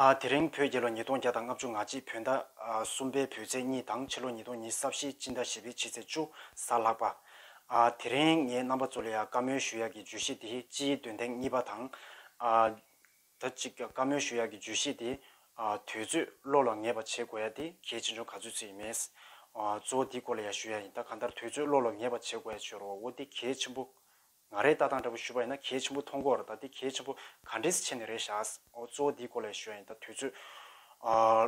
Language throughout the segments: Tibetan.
དེ་རིང་བོད་རྒྱལ་ལོ་ཉིས་སྟོང་བརྒྱ་དང་ལྔ་བཅུ་ང་གཅིག་བོད་ཟླ་གསུམ་པའི་བོད་ཚེས་གཉིས་དང་ཕྱི་ལོ་ཉིས་སྟོང་ཉིས་སབས་ཤེས་སྤྱི་ཟླ་བཞི་པའི་ཕྱི་ཚེས་བཅུ་གཟའ་ལྷག་པ། དེ་རིང་ངའི་རྣམ་པ་ཚོ་ལ་ཡང་བཀའ་མོལ་ཞུ་ཡག་གི་བརྗོད་གཞི་དེ་སྤྱིའི་འདོན་ཐེངས་གཉིས་པ་དང། ད་ཅིག་བཀའ་མོལ་ཞུ་ཡག་གི་བརྗོད་གཞི་དེ་དུས་ཚོད་བློ་ལ་ངེས་པ་བྱེད་དགོས་ཡ་དེ་གལ་ཆེ་ཆུང་ག་ཚོད་ཚོད་ཡིན་མེད། གཙོ་བོ་དེ་སྐོར་ལ་ཡང་ཞུ་ཡག་ཡིན་ད་གང་ལྟར་དུས་ཚོད་བློ་ལ་ངེས་པ་བྱེད་དགོས་ཡ་བྱོས་རོགས་འོ་དེ་གལ་ཆེན་པོ། ང་རས་ལྟ་སྟངས་འདྲ་པོ་ཞུས་པ་ཡིན་ན་གལ་ཆེན་པོ་མཐོང་གོ་ཨ་རོ་ད་དེ་གལ་ཆེན་པོ་ག་འདྲའི་ཆེ་ནི་རེད་ཤག་ཨོ་གཙོ་བོ་འདིའི་སྐོར་ལས་ཞུ་ཡ་ཡིན་ད་དུས་ཚོད་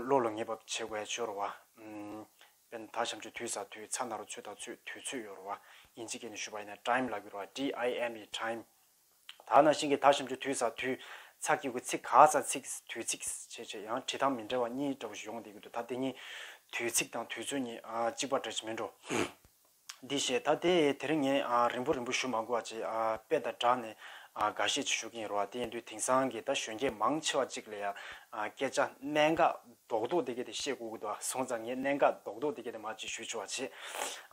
བློ་ལ་ངེས་པ་བྱེད་དགོས་ཡ་ཆོས་རོ་བ་བན་ད་བྱམས་ཆོས་དུས་ཟ་དུས་ཚ་ན་རོ་ཚོད་ད་ཚོད་དུས་ཚོད་ཡོད་རོ་བ་ཡིན་ཅི་སྐད་ནས་ཞུས་པ་ཡིན་ན Time ལ་གྱུར་བ TIME Time ད་ན་ཤིང་གི་ད་བྱམས་ཆོས་དུས་ཟ་དུས་ཚ་སྐྱེ་གུ་ཚིག་ག་ཚ་ཚིག་དུས་ཚིག་བྱེད་བྱེད་ཡང་བྲིས་ཐང་མི་འདྲ་བ་གཉིས་འདྲ་པོ་ཞིག་ཡོང་བསྡད་ཀྱི་འདུག་ད་དེ་གཉིས་དུས་ཚིག་དང་དུས་ཚོད་གཉིས་གཅིག་པ་འདྲ་ཅི་མིན་འགྲོ། འདི་ཞེས་ད་དེ་དེར་ངས་རིང་པོ་རིང་པོ་བཞུགས་མ་དགོས་བ་ཅེས་དཔེ་དང་སྦྲགས་ནས་འགའ་ཤས་བཞུགས་ཀྱིན་རོ། དེ་ཡིན་དུས་དེང་སང་གི་ད་གཞོན་སྐྱེས་མང་ཆེ་བ་ཅིག་ལ་ཡང་སྐད་ཆ་གནད་འགག་རྡོག་རྡོག་དེ་གས་དེ་བཤད་དགོས་ཀྱི་འདུག་སོང་ཙང་ངས་གནད་འགག་རྡོག་རྡོག་དེ་གས་དེ་མ་བྱེད་ཞུས་ཆོག་བ་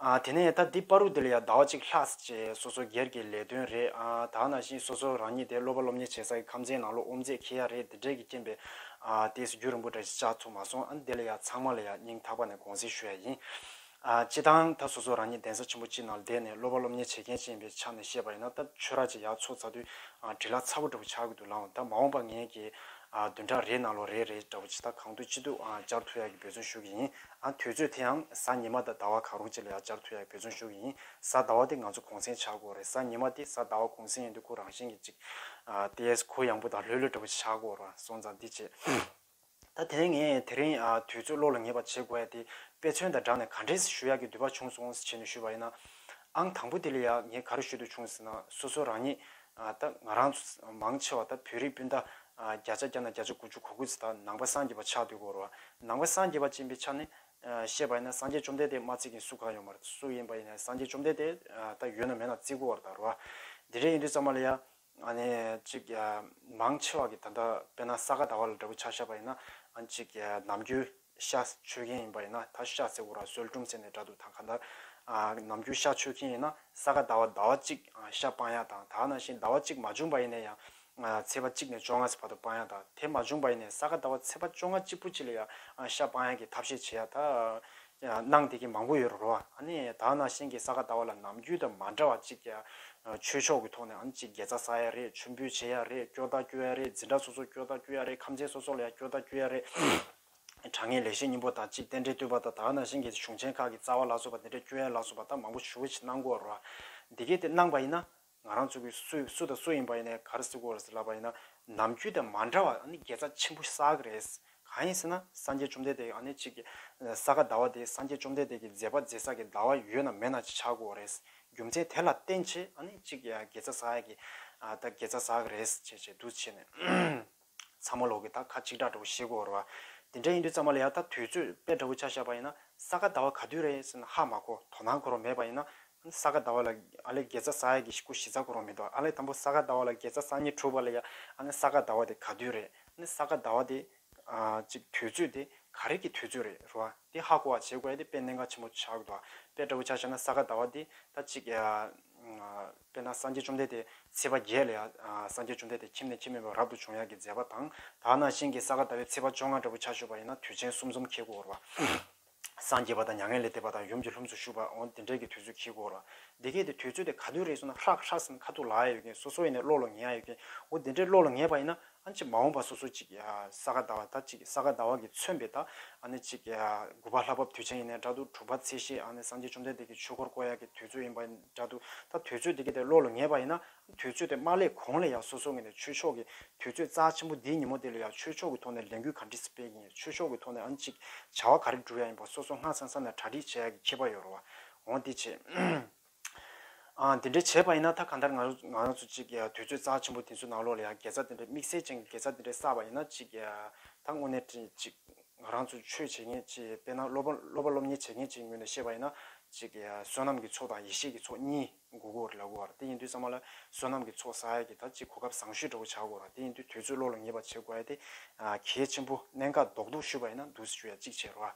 བྱས། དེ་ནས་ད་འདི་པར་རུ་དེ་ལ་ཡང་ཟླ་བ་གཅིག་ལྷག་ཟེར་བྱས་སོ་སོ་སྒེར་གྱི་ལས་དོན་རེད་དག་ནང་བཞིན་སོ་སོ་རང་ཉིད་དེ་སློབ་པ་སློབ་གཉེར་བྱེད་ས་གི་ཁམས་ཚན་ནང་ལོ་ཨོམ་རྩེད་ཁེལ་ཡ་རེད་དེ་འདྲས་ཀྱི་རྐྱེན་པས་དེས་རྒྱུ་རིང་པོ་འདྲ་ཞིག་བཅག་ཚུགས་མ་སོང་ཨ་འདི་ལ་ཡང་ཚང་མ་ལ་ཡང་སྙིང་ཐག་པ་ནས་དགོངས་སེལ་ཞུ་ཡ་ཡིན། སྤྱི་དང། ད་སོ་སོ་རང་ཉིད་གདན་ས་ཆེན་པོ་སྤྱི་ནང་བསྡད་ནས་སློབ་པ་སློབ་གཉེར་བྱེད་མཁན་ཅིག་ཡིན་པའི་ཆ་ནས་བཤད་པ་ཡིན་ན་ད་ཆོས་ར་ཅིག་ཡག་ཚོགས་ཚ་དུས་དྲིལ་ལ་ཚ་བོ་འདྲ་བོ་ཆགས་ཀྱི་འདུག་ལའང་ད་མ་འོངས་པ་ངེད་ཀྱིས་བདུན་ཕྲག་རེའི་ནང་ལོ་རེ་རེ་འདྲ་བོ་ཇི་ལྟ་གང་འདུག་ཅི་འདུག་བཅར་ཐུབ་ཡག་གི་འབོད་བརྩོན་ཞུ་གི་ཡིན། དུས་ཚོད་དེ་ཡང་གཟའ་ཉི་མ་དང་ཟླ་བ་གང་རུང་ཅིག་ལ་ཡག་བཅར་ཐུབ་ཡག་གི་འབོད་བརྩོན་ཞུ་གི་ཡིན། གཟའ་ཟླ་བ་དེ་ང་ཚོ་གུང་སེང་ཆགས་དགོས་རེད་གཟའ་ཉི་མ་དེ་གཟའ་ཟླ་བ་གུང་སེང་ཡིན་དུས་ཁོ་རང་བཞིན་གྱིས་ཅིག། ཏི་ཡས་ཁོ་ཡང་པོ་དང་ལྷོད་ལྷོད་འདྲ་བོ་ཆགས་དགོས་ར་སོང་ཙང་འདི་བྱེད། ད་དེ་ནས་ངས་དེ་རིང་དུས་ཚོད་བློ་ལ་ངེས་པ་བྱེད་དགོས་ཡ་དེ་དཔེ་མཚོན་དང་སྦྲགས་ནས་ག་འདྲེས་ཞུ་ཡག་གི་འདོད་པ་བྱུང་སོང་བྱས་ནས་ཞུས་པ་ཡིན། ཨང་དང་པོ་དེ་ལ་ཡང་ངས་ག་རེ་ཞུ་འདོད་བྱུང་ཟེར་ན་སོ་སོ་རང་ཉིད་ད་ང་རང་ཚོ་མང་ཆེ་བ་ད་བོད་རིགས་སྤུན་ཟླ་བརྒྱ་ཆ་བརྒྱ་ན་བརྒྱ་ཆ་དགུ་བཅུ་གོ་དགུ་ཚོ་ད་ནང་པ་སངས་རྒྱས་པ་ཆགས་དུས་གོ་རོ་ནང་པ་སངས་རྒྱས་པ་ཅན་པའི་ཆ་ནས་བཤད་པ་ཡིན་ན་སངས་རྒྱས་བཅོམ་ལྡན་འདས་མ་བརྩིས་མཁན་སུ་གང་ཡོད་མ་རེད་སུ་ཡིན་པ་ཡིན་ན་སངས་རྒྱས་བཅོམ་ལྡན་འདས་ད་ཡོད་ན་མེད་ན་བརྩི་དགོས་བ་རེད་ད་རོ། དེ་འདྲས་ཡིན་དུས་ཙང་མ་ལ་ཡ་ང་ནི་ཅིག་མང་ཆེ་བ་གི་ད་ལྟ་དཔེ་ན་ས་ག་ཟླ་བ་ལ་འདྲ་བུ་ཆ་བཞག་པ་ཡིན་ན་ཨང་ཅིག་ནམ་རྒྱུན་ཤ་ཆོས་མཁན་ཡིན་པ་ཡིན་ན་ད་ཤ་ཟེར་བོ་ར་སོལ་ཀྲུང་ཟེར་ནས་འདྲ་འདུག་ད་ག་ནར་ནམ་རྒྱུན་ཤ་ཆོས་མཁན་ཡིན་ན་ས་ག་ཟླ་བ་ཟླ་བ་གཅིག་ཤ་སྤང་ཡག་དང་ད་ན་ཞིང་ཟླ་བ་གཅིག་མ་བྱུང་པ་ཡིན་ནས་ཡང་ཚེས་པ་གཅིག་ནས་བཅོ་ལྔ་ཚེ་བར་དུ་སྤང་ཡག་དང་དེ་མ་བྱུང་པ་ཡིན་ནས་ས་ག་ཟླ་བ་ཚེས་པ་བཅོ་ལྔ་གཅིག་པུ་གཅིག་ལ་ཡང་ཤ་སྤང་ཡག་གི་ཐབས་ཤེས་བྱེད་ཡག་ད་སྣང་དེ་ཀྱི་མང་པོ་ཡོད་རོ་རོ། དག་ན་ཤིང་གི་ས་ག་ད་བ་ལ་ནམ་རྒྱུན་དང་མ་འདྲ་བ་གཅིག་ཀྱ། ཆོས་མཆོག་གི་ཐོག་ནས་ཨང་གཅིག་དགེ་རྩ་ཟ་ཡ་རེད་མཆོད་འབུལ་བྱེད་ཡ་རེད་སྐྱོ་ད་སྐྱོ་ཡ་རེད་འཛིན་གྲ་སོ་སོ་སྐྱོ་ད་སྐྱོ་ཡ་རེད་ཁམས་ཆེན་སོ་སོ་ལ་ཡ་སྐྱོ་ད་སྐྱོ་ཡ་རེད། དྲང་ངེས་ལེགས་བཤད་སྙིང་པོ་དང་གཅིག་རྟེན་འབྲེལ་བསྟུན་པ་དང་དག་ན་ཤིང་གི་གཞུང་ཆེན་ཁག་གི་རྩ་བ་ལ་སོགས་པ་འདི་འདྲ་སྐྱོ་ཡ་ལ་སོགས་པ་དག་མང་པོ་ཆུ་བོ་ཆེ་སྣང་གོ་རོ། འདི་གས་དེ་སྣང་བ་ཡིན་ན། ང་རང་ཚོ་གི་སུ་སུ་དང་སུ་ཡིན་པ་ཡིན་ནའི་གར་སི་གོར་སི་ལབ་པ་ཡིན་ན་ནམ་རྒྱུན་དང་མ་འདྲ་བ་ཨ་ནི་དགེ་རྩ་ཆེན་པོ་བསགས་ཀྱི་རེད། གང་ཡིན་ཟེར་ན་སངས་རྒྱས་བཅོམ་ལྡན་འདས་ཀྱི་ཨ་ནི་གཅིག་གི། ས་ག་ཟླ་བ་དེ་སངས་རྒྱས་བཅོམ་ལྡན་འདས་ཀྱི་མཛད་པ་མཛད་བསགས་ཀྱི་ཟླ་བ་ཡོད་ན་མེད་ན་ཅིག་ཆགས་དགོས་རེད། རྒྱུ་མཚན་དེ་ལ་བརྟེན་ཆེད་ཨ་ནི་གཅིག་དགེ་རྩ་བསགས་ཡ་གི། ད་དགེ་རྩ་བསགས་ཀྱི་རེད་ཅེས་ཅེས་བསྡུ་བྱས་ནས། ཚང་མ་ལོག་གི་ད་ཁ་གཅིག་གྲག་འདྲ་བོ་ཤེས་གོ་ར་བ། དེ་འདྲ་ཡིན་དུས་ཚང་མ་ལ་ཡང་ད་དུས་ཚོད་དཔེ་འདྲ་བོ་ཆ་བཞག་པ་ཡིན་ན་ས་ག་ཟླ་བ་ག་དུས་རེད་ཟེར་ན་ཧ་མ་གོ་དོ་སྣང་འཁོར་བ་མེད་པ་ཡིན་ན་ས་ག་ཟླ་བ་ལ་ཨ་ལེ་དགེ་རྩ་ས་ཡ་གི་སྐུ་བཞི་རྩ་འཁོར་བ་མི་འདུག་ཨ་ལེ་དང་པོ་ས་ག་ཟླ་བ་ལ་དགེ་རྩ་སང་ཉིན་དྲུག་པ་ལ་ཡ་ཨ་ནི་ས་ག་ཟླ་བ་དེ་ག་དུས་རེད་ཨ་ནི་ས་ག་ཟླ་བ་དེ་གཅིག་དུས་ཚོད་དེ་ག་རེ་གི་དུས་ཚོད་རེད་ར་བ་དེ་ཧ་གོ་བ་བྱེད་དགོས་ཡ་དེ་དཔེ་གནད་འགག་ཆེན་པོ་ཆགས་འདུག་ཨ་དཔེ་འདྲ་བོ་ཆ་བཞག་ན་ས་ག་ཟླ་བ་དེ་ད་གཅིག་དཔེར་ན་སངས་རྒྱས་བཅོམ་ལྡན་འདས་ཚེས་པ་བརྒྱད་ལ་ཡང་སངས་རྒྱས་བཅོམ་ལྡན་འདས་ཁྱིམ་ནས་ཁྱིམ་མེད་པར་རབ་ཏུ་བྱུང་ཡ་གི་མཛད་པ་དང། དག་སྣང་ཞིང་གི་ས་ག་ཟླ་བའི་ཚེས་པ་བཅོ་ལྔ་འདྲ་བོ་ཆར་ཞོད་པ་ཡིན་ན་དུས་ཆེན་གསུམ་ཚོམ་ཁྱེད་གུ་བོར་བ། སངས་རྒྱས་པ་དང་མྱ་ངན་ལས་འདས་པ་དང་ཡུམ་གྱི་ལྷུམས་སུ་ཞུགས་པ་འོང་དེ་འདྲའི་གི་དུས་ཚོད་ཁྱེད་གུ་བོར་བ། འདི་སྐད་དུ་དུས་ཚོད་དེ་ག་དུས་རེད་ཟུར་ན་ཧྲག་ཧྲག་སེམས་ཁ་ཐུག་ལ་ཡ་ཡོད་ཀྱིན་སོ་སོ་ཡེ་ནས་བློ་ལ་ངེས་ཡ་ཡོད་ཀྱིན་འོ་དེ་འདྲའི་བློ་ལ་ངེས་པ་ཡིན་ན་ཨ་ནི་མ་འོངས་པ་སོ་སོ་ཅིག་ས་ག་ཟླ་བ་ད་ཅིག་ས་ག་ཟླ་བ་གིས་མཚོན་པའི་ད་ཨ་ནི་ཅིག་དགུ་པ་ལྷ་བབས་དུས་ཆེན་ཡིན་ནས་འདྲ་འདུག་དྲུག་པ་ཚེས་ཤེས་ཨ་ནི་སངས་རྒྱས་བཅོམ་ལྡན་འདས་ཀྱི་ཆོས་འཁོར་བསྐོར་ཡག་གི་དུས་ཚོད་ཡིན་པ་འདྲ་འདུག་ད་དུས་ཚོད་དེ་ག་དེ་བློ་ལ་ངེས་པ་ཡིན་ན་དུས་ཚོད་དེ་མ་ལས་གོང་ལས་ཡག་སོ་སོ་ངེས་ནས་ཆོས་ཕྱོགས་ཀྱི་དུས་ཚོད་རྩ་ཆེན་པོ་འདིའི་ཉིན་མོ་དེ་ལ་ཡག་ཆོས་ཕྱོགས་ཀྱི་ཐོག་ནས་ལས་འགུལ་ག་འདྲི་སྤེལ་གྱིན་ཡོད་ཆོས་ཕྱོགས་ཀྱི་ཐོག་ནས་ཨ་ནི་ཅིག་བྱ་བ་ག་རེ་བསྒྲུབ་ཡག་ཡིན་པ་སོ་སོ་སྔ་ས་ས་ནས་གྲ་སྒྲིག་བྱེད་ཡག་གི་ཁྱད་པ་ཡོད་རོ་བ་འོང་འདི་བྱེད། འདི་འདྲའི་བྱས་པ་ཡིན་ན་ད་གང་ལྟར་ང་རང་ཚོ་ཅིག་དུས་ཚོད་གཙང་ཆེན་པོ་དེ་ཚོའི་ནང་ལོགས་ལ་ཡང་དགེ་རྩ་དེ་འདྲའི་དམིགས་བསལ་ཅན་གྱི་དགེ་རྩ་དེ་འདྲའི་བསགས་པ་ཡིན་ན་ཅིག་ད་དངོས་གནས་ཅིག་ང་རང་ཚོ་ཆོས་བྱེད་མཁན་ཅིག་དཔེར་ན་སློབ་པ་སློབ་གཉེར་བྱེད་མཁན་ཅིག་ངོས་ནས་བཤད་པ་ཡིན་ན་ཅིག་བསོད་ནམས་ཀྱི་ཚོགས་དང་ཡེ་ཤེས་ཀྱི་ཚོགས་གཉིས་འགུག་དགོས་ར་ལ་གོ་ར་དེ་ཡིན་དུས་ཚང་མ་ལ་བསོད་ནམས་ཀྱི་ཚོགས་བསགས་ཡ་གི་ད་ཅིག་གོ་སྐབས་བཟང་ཤོས་འདྲ་བོ་བྱ་དགོས་ར་དེ་ཡིན་དུས་དུས་ཚོད་བློ་ལ་ངེས་པ་བྱེད་དགོས་ཡ་དེ་གལ་ཆེན་པོ་གནད་འགག་རྡོག་རྡོག་ཤོས་པ་ཡིན་ན་འདུག་སེ་ཞུ་ཡ་ཅིག་བྱེད་ར།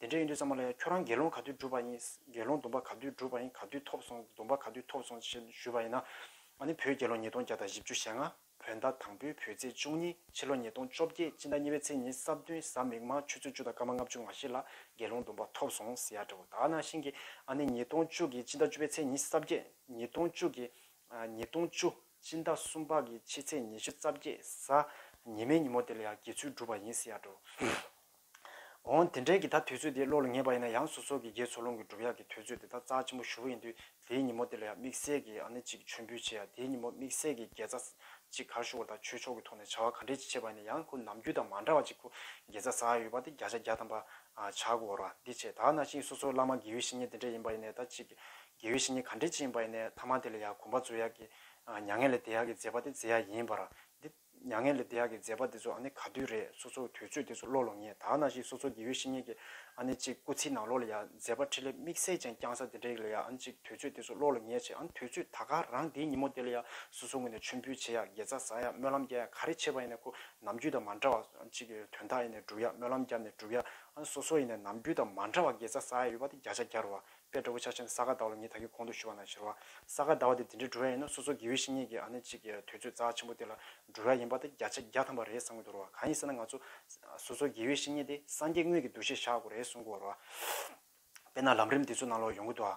དེ་འདྲ་ཡིན་དུས་ཙམ་མ་ལ་ཡང་ཁྱོད་རང་དགེ་སློང་ག་དུས་བསྒྲུབས་པ་ཡིན། དགེ་སློང་སྡོམ་པ་ག་དུས་བསྒྲུབས་པ་ཡིན་ག་དུས་ཐོབ་སོང་སྡོམ་པ་ག་དུས་ཐོབ་སོང་ཞེས་ཞུས་པ་ཡིན་ན། ཨ་ནི་བུ་དགེ་སློང་ཉིས་སྟོང་བརྒྱ་དང་བཞི་བཅུ་ཞེ་ལྔ། བུ་ཟླ་དང་པོའི་བུའི་ཚེས་བཅུ་གཉིས་ཕྱི་ལོ་ཉིས་སྟོང་བཅོ་བརྒྱད་སྤྱི་ཟླ་གཉིས་པའི་ཚེས་ཉིན་སྲབ་བདུན་གཟའ་མིག་དམར་ཆུ་ཚོད་བཅུ་དང་སྐར་མ་ལྔ་བཅུ་ང་བཞི་ལ་དགེ་སློང་སྡོམ་པ་ཐོབ་སོང་ཟེར་ཡག་འདྲ་བོ་དག་ནང་བཞིན་གྱི་ཨ་ནི་ཉིས་སྟོང་བཅུ་གྱི་སྤྱི་ཟླ་བཅུ་པའི་ཚེས་ཉིན་སྲབ་བརྒྱད་ཉིས་སྟོང་བཅུ་གྱི། ཉིས་སྟོང་བཅུ་སྤྱི་ཟླ་གསུམ་པ་གྱི་ཕྱི་ཚེས་ཉི་ཤུ་རྩ་བརྒྱད་གཟའ་ཉི་མའི་ཉིན་མོ་དེ་ལ་ཡང་དགེ་ཚུལ་བསྒྲུབས་པ་ཡིན་ཟེར་ཡག་འདྲ་བོ། འོང། དེ་འབྲེལ་གྱི་ད་དུས་ཚོད་དེ་བློ་ལ་ངེས་པ་ཡིན་ན་ཡང་སོ་སོ་གི་རྒྱའི་ཚོགས་ལུང་གི་སྒྲུབ་ཡག་གི་དུས་ཚོད་དེ་ད་རྩ་ཆེན་པོ་ཞུ་བ་ཡིན་དུས་དེའི་ཉིན་མོ་དེ་ལ་ཡང་དམིགས་བསལ་གྱི་ཨ་ནེ་གཅིག་མཆོད་འབུལ་བྱེད་ཡ་དེའི་ཉིན་མོ་དམིགས་བསལ་གྱི་དགེ་རྩ་གཅིག་གར་ཞུ་བ་དང་ཆོས་ཕྱོགས་གི་ཐོག་ནས་བྱ་བ་ག་འདྲེ་ཅིག་བྱེད་པ་ཡིན་ན་ཡང་ཁོ་ནམ་རྒྱུན་དང་མ་འདྲ་བ་ཅིག་ཁོ་དགེ་རྩ་ཟ་ཡ་ཡོད་པ་དེ་བརྒྱ་ཆ་བརྒྱ་ཐམ་པ་བྱ་དགོས་བར་བ་འདི་བྱེད་ད་ན་ཤིང་སོ་སོ་བླ་མ་དགེ་བའི་བཤེས་གཉེན་དེ་འདྲེ་ཡིན་པ་ཡིན་ནས་ད་ཅིག་དགེ་བའི་བཤེས་གཉེན་ག་འདྲེ་ཅིག་ཡིན་པ་ཡིན་ནས་ཐ་མ་དེ་ལ་ཡང་གོམ་པ་རྩོད་ཡག་གི་མྱ་ངན་ལས་འདས་ཡག་གི་མཛད་པ་དེ་མཛད་ཡ་ཡིན་བར་བ་འདི། མྱ་ངན་ལས་འདས་ཡག་གི་མཛད་པ་འདི་ཚོ་ཨ་ནི་ག་དུས་རེད་སོ་སོ་དུས་ཚོད་འདི་ཚོ་བློ་ལོ་ངས་ད་ན་ཞིག་སོ་སོ་དགེ་བའི་བཤེས་གཉེན་གྱི་ཨ་ནི་ཅིག་སྐུ་ཚེའི་ནང་ལོ་ལ་ཡ་མཛད་པ་ཁྲི་ལས་དམིགས་བསལ་ཅན་བསྐྱངས་ས་འདི་འདྲ་ཡིག་ལ་ཡ་ཨ་ནི་ཅིག་དུས་ཚོད་འདི་ཚོ་བློ་ལ་ངས་བྱས་ཨ་ནི་དུས་ཚོད་ད་ག་རང་འདིའི་ཉིན་མོ་འདི་ལ་ཡ་སོ་སོ་ངོས་ནས་མཆོད་འབུལ་བྱེད་ཡ་དགེ་རྩ་བཟའ་ཡ་སྨོན་ལམ་རྒྱ་ཡ་ག་རེ་བྱེད་པ་ཡིན་ནས་ཁོ་ནམ་རྒྱུན་དང་མ་འདྲ་བ་ཨ་ནི་ཅིག་དོན་དག་ཡིན་ནས་བསྒྲུབ་ཡ་སྨོན་ལམ་བརྒྱབ་ནས་བསྒྲུབ་ཡ་ཨ་ནི་སོ་སོ་ཡིན་ནས་ནམ་རྒྱུན་དང་མ་འདྲ་བ་དགེ་རྩ་བཟའ་ཡ་ཡོད་པ་དེ་བརྒྱ་ཆ་བརྒྱར་བ་པའི་འགྲོ་ཀུན་ཕྱག་ཆེན་ས་ག་ཟླ་བ་ལ་ངས་ད་གིན་གོང་དུ་ཞུ་བ་ན་ཤེར་བ་ས་ག་ཟླ་བ་དེ་འདི་འདྲའི་འགྲོ་ཡ་ཡིན་ན་སོ་སོ་དགེ་བའི་བཤེས་གཉེན་གྱི་ཨ་ནེ་གཅིག་གིས་དུས་ཚོད་རྩ་ཆེན་པོ་དེ་ལ་འགྲོ་ཡ་ཡིན་པ་དེ་བརྒྱ་ཆ་བརྒྱ་ཐམ་པ་རེད་བསམ་གྱི་འདུག་རོ་གང་ཡིན་ཟེར་ན་ང་ཚོ་སོ་སོ་དགེ་བའི་བཤེས་གཉེན་དེ་སངས་རྒྱས་དངོས་ཀྱི་འདུ་ཤེས་བཞག་དགོས་རེད་གསུང་གི་འོ་རོ། དཔེར་ན་ལམ་རིམ་འདི་ཚོ་ནང་ལོགས་ཡོང་གི་འདུག་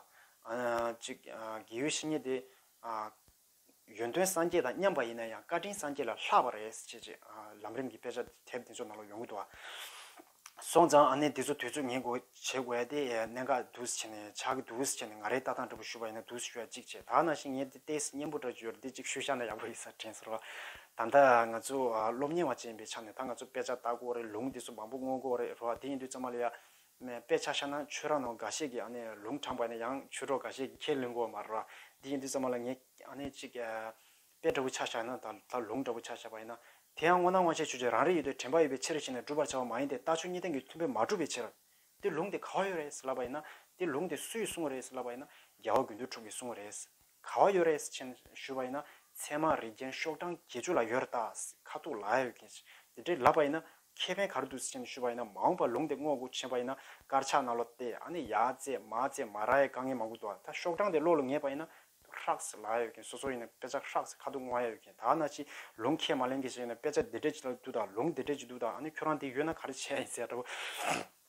ཨ། གཅིག་དགེ་བའི་བཤེས་གཉེན་དེ། ཡོན་ཏན་སངས་རྒྱས་དང་མཉམ་པ་ཡིན་ན་ཡང་བཀའ་དྲིན་སངས་རྒྱས་ལ་ལྷག་པ་རེད། ཅེས་ཅེས། ལམ་རིམ་གྱི་དཔེ་ཆ་དེབ་འདི་ཚོ་ནང་ལ་ཡོང་གི་འདུག་ཨ། སོང་ཙང་ཨ་ནེ་འདི་ཚོ་དུས་ཚོད་ཉན་དགོས་བྱེད་དགོས་ཡ་དེ། གནད་འགག་འདུག་བྱས་ནས་ཆགས་ཀྱི་འདུག་བྱས་ནས་ང་རེའི་ལྟ་སྟངས་འདྲ་པོ་ཞུ་བ་ཡིན་ན་འདུག་ཞུ་ཡ་གཅིག་བྱས་ད་ནང་བཞིན་ངས་འདི་ཏེས་སྙན་པོ་འདྲ་བརྗོད་འདི་གཅིག་ཞུ་བཞག་ན་ཡག་པོ་ཡིན་ས་དྲན་སོང་ལ། ད་ལྟ་ང་ཚོ་སློབ་གཉེར་བ་བཅས་ཡིན་པའི་ཆ་ནས་ད་ང་ཚོ་དཔེ་ཆ་ལྟ་དགོས་རེད་ལུང་འདི་ཚོ་མང་པོ་མངོན་དགོས་རེད་རོ་ཨ་དེ་ཡིན་དུས་ཙམ་མ་ལ་ཡ། ནས་དཔེ་ཆ་ཤར་ན་ཆོས་ར་ནང་འགའ་ཤས་ཀྱི་ལུང་དྲངས་པ་ནས་ཡང་ཆོས་གྲོགས་འགའ་ཤས་ཀྱིས་ཁས་ལེན་དགོས་མ་རེད་པ། དེ་ཡིན་དུས་ཙམ་མ་ལ་ངས་ཅིག་དཔེ་འདྲ་བོ་ཆ་བཞག་ན་ད་ལྟ་ལུང་འདྲ་བོ་ཆ་བཞག་པ་ཡིན་ན། དེ་ཡང་སྔོ་ན་སྔོ་ཆད་ཆོས་ཆད་རང་རེ་ཡོད་དོ་དྲན་པ་ཡོད་པའི་ཕྱིར་ཞེས་ནས་བསྒྲུབ་པར་བྱ་བ་མ་ཡིན་ཏེ་ལྟ་ཆོས་གཉིས་ལྡན་གྱི་མཐུན་དཔེ་མ་གྲུབ་པའི་ཕྱིར། དེ་ལུང་དེ་ག་བ་ཡོད་རེད་ཟེར་ལབ་པ་ཡིན་ན། དེ་ལུང་དེ་སུས་གསུངས་བ་རེད་ཟེར་ལབ་པ་ཡིན་ན། རྒྱལ་བ་དགོས་འདོད་དྲུག་གིས་གསུངས་བ་རེད། ག་བ་ཡོད་རེད་ཟེར་ཕྱིན་ཞུས་པ་ཡིན་ན་ཚད་མ་རིགས་རྒྱན་ཤོག་གྲངས་བརྒྱད་ཅུ་ལ་ཡོད་རེད་ད་ཁ་ཐུག་ལ་ཡོད་ཀྱི་དེ་འདྲའི་ལབ་པ་ཡིན་ན་ཁེ་ཕན་གར་འདུག་ཟེར་ཕྱིན་ཞུས་པ་ཡིན་ན་མ་འོངས་པ་ལུང་དེ་སྔོག་དགོས་ཕྱིན་པ་ཡིན་ན་དཀར་ཆག་ནག་ལོ་སྟེ་ཨ་ནི་ཡ་ཙེ་མ་ཙེ་མ་ར་ཡའི་དཀའ་ངལ་མང་པོ་འདུག་ཨ་ད་ཤོག་གྲངས་དེ་ལོག་ལ་ངེས་པ་ཡིན་ན་ཧྲག་ཟེར་ལ་ཡོད་ཀྱི་སོ་སོ་ཡིན་ན་དཔེ་ཆ་ཧྲག་ཟེར་ཁ་ཐུག་ང་ཡ་ཡོད་ཀྱི་ད་ཨ་ན་ཅི་ལུང་ཁས་མ་ལེན་གྱི་ཟེར་ཡིན་ན་དཔེ་ཆ་འདི་འདྲས་ཅི་ལ་འདུག་ད་ལུང་འདི་འདྲས་ཅི་འདུག་ད་ཨ་ནི་ཁྱོད་རང་དེ་ཡོད་ན་ག་རེ་བྱས་ཡིན་ཟེར་ཡ་འདྲ་བོ།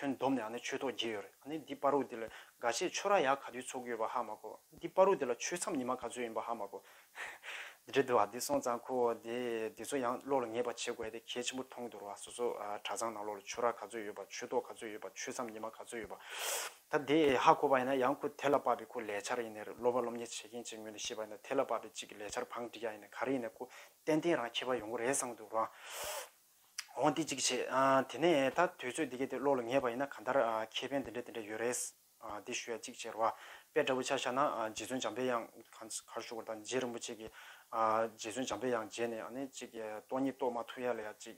ཁྱོད་སྡོམ་ནས་ཨ་ནི་ཆོས་ཐོག་རྒྱས་ཡོད་རེད་ཨ་ནི་འདི་པར་རུ་འདི་ལ་དགའ་ཆེད་ཆོས་ར་ཡག་ག་དུས་ཚོགས་ཀྱི་ཡོད་པ་ཧ་མ་གོ་འདི་པར་རུ་འདི་ལ་ཆོས་མཚམས་ཉི་མ་ག་ཚོད་ཡིན་པ་ཧ་མ་གོ། འདི་འདྲའི་འདུག་ཨ་འདི་སོང་ཙང་ཁོ་འོ་དེ་འདི་ཚོ་ཡང་བློ་ལ་ངེས་པ་བྱེད་དགོས་ཨ་དེ་གལ་ཆེན་པོར་མཐོང་འདུག་རོ་ཨ་སོ་སོ་གྲྭ་ཚང་ནང་ལོགས་ལ་ཆོས་ར་ག་ཚོད་ཡོད་པ་ཆོས་ཐོག་ག་ཚོད་ཡོད་པ་ཆོས་མཚམས་ཉི་མ་ག་ཚོད་ཡོད་པ། ད་དེ་ཧ་གོ་བ་ཡིན་ན་ཡང་ཁོ་དེ་ལ་དཔག་པའི་ཁོ་ལས་འཆར་ཡིན་ནི་རེད་སློབ་པ་སློབ་གཉེར་བྱེད་མཁན་གཅིག་ངོས་ནས་ཤེས་པ་ཡིན་ན་དེ་ལ་དཔག་པའི་གཅིག་གི་ལས་འཆར་བང་བསྒྲིགས་ཡག་ཡིན་ནི་ག་རེ་ཡིན་ནི་ཁོ་ཏན་ཏན་རང་ཁྱད་པར་ཡོང་གི་རེད་བསམ་འདུག་རོ་ཨ། འོང་འདི་ཅིག་བྱེད། དེ་ནས་ད་དུས་ཚོད་འདི་གས་དེ་བློ་ལ་ངེས་པ་ཡིན་ན་ག་འདར་ཁེ་ཕན་དེ་འདྲ་དེ་འདྲ་ཡོད་རེད། འདི་ཞུ་ཡ་ཅིག་བྱེད་རོགས། དཔེ་འདྲ་བོ་ཆ་ཤ་ན་རྗེ་བཙུན་འཇམ་དཔལ་དབྱངས་གར་བཞུགས་པ་དང་རྗེ་རིན་པོ་ཆེ་གིས་རྗེ་བཙུན་འཇམ་དཔལ་དབྱངས་མཇལ་ནས་ཨ་ནི་ཅིག་སྟོང་ཉིད་རྟོགས་མ་ཐུབ་ཡ་ལ་ཡ་ཅིག་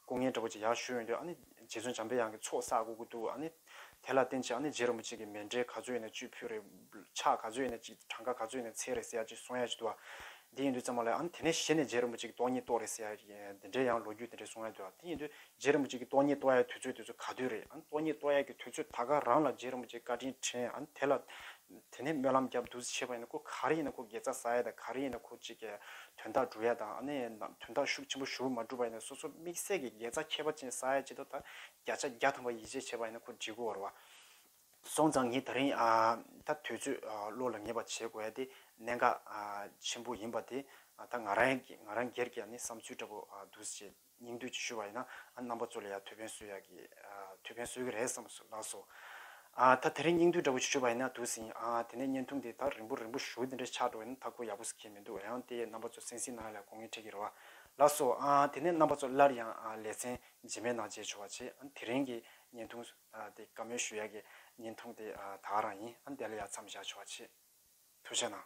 སྐུ་ངལ་འདྲ་བོ་ཅིག་ཡག་ཞུས་ཡོང་དུས་ཨ་ནི་རྗེ་བཙུན་འཇམ་དཔལ་དབྱངས་ཀྱི་ཚོགས་བསགས་དགོས་ཀྱི་འདུག་ཨ་ནི། དེ་ལ་བརྟེན་ཅག་ནི་རྗེ་རིན་པོ་ཆེ་གི་མེ་འབྲས་ག་ཚོད་ཡིན་ན་བཅུད་ཕུལ་རེ། ཕྱག་ག་ཚོད་ཡིན་ན་ཅིག་གྲངས་ཀ་ག་ཚོད་ཡིན་ན་ཚད་རེ་ཟེར་ཡ་ཅིག་སོང་ཡ་ཅིག་འདུག་ཨ། དེ་ཡིན་དུས་ཙམ་མ་ལོས་ཨ། དེ་ནས་གཞི་ནས་རྗེ་རིན་པོ་ཆེ་གི་ཏོག་ཉིད་ཏོག་རེ་ཟེར་ཡ་ཅིག་དེ་འདྲའི་ཡང་ལོ་རྒྱུས་དེ་འདྲའི་སོང་ཡ་འདུག་ཨ། དེ་ཡིན་དུས་རྗེ་རིན་པོ་ཆེ་གི་ཏོག་ཉིད་ཏོག་ཡའི་དུས་ཚོད་དེ་ཚོ་ག་དུས་རེད་ཨ། ཏོག་ཉིད་ཏོག་ཡ་གི་དུས་ཚོད་ད་ག་རང་ལ་རྗེ་རིན་པོ་ཆེ་བཀའ་དྲིན་དྲན་ཨ། དེ་ལ། དེ་ནས་སྨོན་ལམ་རྒྱབ་བདུད་རྩི་བྱེད་པ་ཡིན་ན་ཁོ་ག་རེ་ཡིན་ན་ཁོ་དགེ་རྩ་ཟ་ཡ་དང་ག་རེ་ཡིན་ན་ཁོ་ཅིག་གི་དོན་དག་སྒྲུབ་ཡ་དང་ཨ་ནི་དོན་དག་ཤུགས་ཆེན་པོ་ཞུ་བ་མ་སྒྲུབ་པ་ཡིན་ན་སོ་སོ་དམིགས་བསལ་གྱི་དགེ་རྩ་ཁྱད་པ་ཅན་ཟ་ཡ་ཅིག་འདུག་ད་བརྒྱ་ཆ་བརྒྱ་ཐམ་པ་ཡིད་ཆེས་བྱས་པ་ཡིན་ན་ཁོ་འཇིགས་སྐུལ་བར་བ། སོང་ཙང་ངས་ད་རིང་ད་དུས་ཚོད་བློ་ལ་ངེས་པ་བྱེད་དགོས་ཡ་དེ་གནད་འགག་ཆེན་པོ་ཡིན་པ་དེ་ད་ང་རང་ང་རང་སྒེར་གྱི་ཡ་ནི་བསམ་ཚུལ་འདྲ་པོ་འདུག་ཅེས་སྙིང་བསྡུས་ཀྱིས་ཞུས་པ་ཡིན་ན་ཨ་རྣམ་པ་ཚོ་ལ་ཡང་ཐུགས་ཕན་གསོས་ཡ་གི་ཐུགས་ཕན་གསོས་ཀྱི་རེད་བསམ་སོ་ལགས་སོ། ད་དེ་རིང་སྙིང་བསྡུས་འདྲ་པོ་ཞིག་ཞུས་པ་ཡིན་ན་དུས་ཟིན་དེ་ནས་བརྙན་ཐུང་དེ་ད་རིང་པོ་རིང་པོ་བཞུགས་དེ་འདྲ་ཆགས་འགྲོ་ཡ་ན་མཐའ་འཁོར་ཡག་པོ་ཟིག་ཁེལ་མི་འདུག་ཡང་དེ་ཡས་རྣམ་པ་ཚོ་སེང་སིང་ནང་ཡ་ལ་གོ་ངེས་འཕྲད་ཀྱི་རེད་བ། ལགས་སོ། དེ་ནས་རྣམ་པ་ཚོ་སླར་ཡང་ལས་ཚན་རྗེས་མའི་ནང་མཇལ་ཆོག་བ་ཆེ་ཨ་དེ་རིང་གི་བརྙན་ཐུང་དེ་བཀའ་མོལ་ཞུ་ཡ་གི་བརྙན་ཐུང་དེ་ད་རང་ཡིན་ཨ་འདི་ལ་ཡ་མཚམས་བཞག་ཆོག་བ་ཆེ་ཐུགས་ཆེ་གནང།